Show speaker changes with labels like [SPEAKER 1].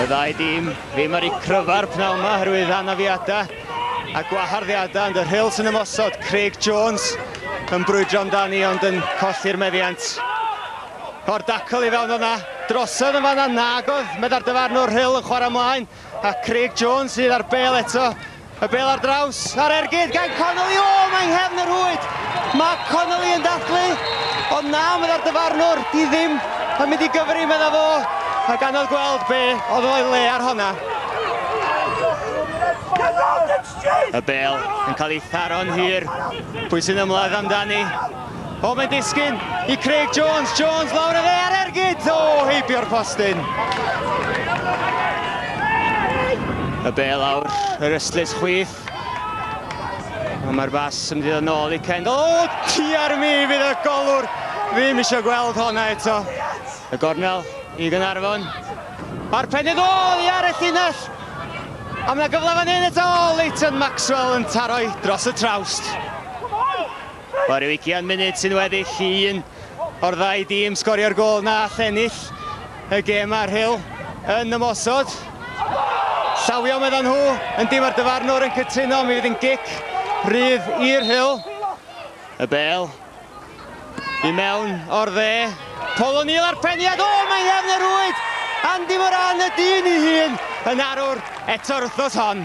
[SPEAKER 1] Y ddau dîm ddim ar ei cryfa'r pnawn yma herwydd anafiadau a gwaharddiadau ond y rhils yn ymosod. Craig Jones yn brwydro amdani ond yn colli'r meddiant. O'r dacl i fewn o'na, drosodd yn fanna, nag oedd meddar dyfarnwr rhyl yn chwarae ymlaen. A Craig Jones sydd ar bêl eto. Y bêl ar draws, ar ergyd gan Connolly. O, oh, mae'n nghefn yr hwyd. Mae Connolly yn dathlu. Ond na, meddai'r dyfarnwr, di ddim yn mynd i gyfri, meddai fo. A ganodd gweld be oedd o'i le ar honna. Y bêl yn cael ei tharo'n hir. Pwy sy'n ymladd amdani? O, mae'n disgyn i Craig Jones. Jones lawr y dde ar ergyd. O, heibio'r postyn. Y bel awr, yr ystlys chwith. A mae'r bas yn mynd yn ôl i Kendall. O, ti ar mi fydd y golwr. Ddim eisiau gweld honna eto. Y gornel i Gynarfon. A'r pennydd ôl i ar y llinell. A mae gyfle fan hyn eto, Leighton Maxwell yn taro dros y trawst. Mae rhyw ugian munud sy'n weddill i un o'r ddau dîm sgorio'r gôl na all ennill y gêm a'r Rhyl yn ymosod. Llawio meddyn nhw, yn dim ar dyfarnwr yn cytuno, mi fydd yn gic rhydd i'r Rhyl. Y bel i mewn o'r dde. Paul O'Neill a'r peniad, o mae Nghefn Rwyd! Andy Moran y dyn i hun yn arwr eto'r wythnos hon.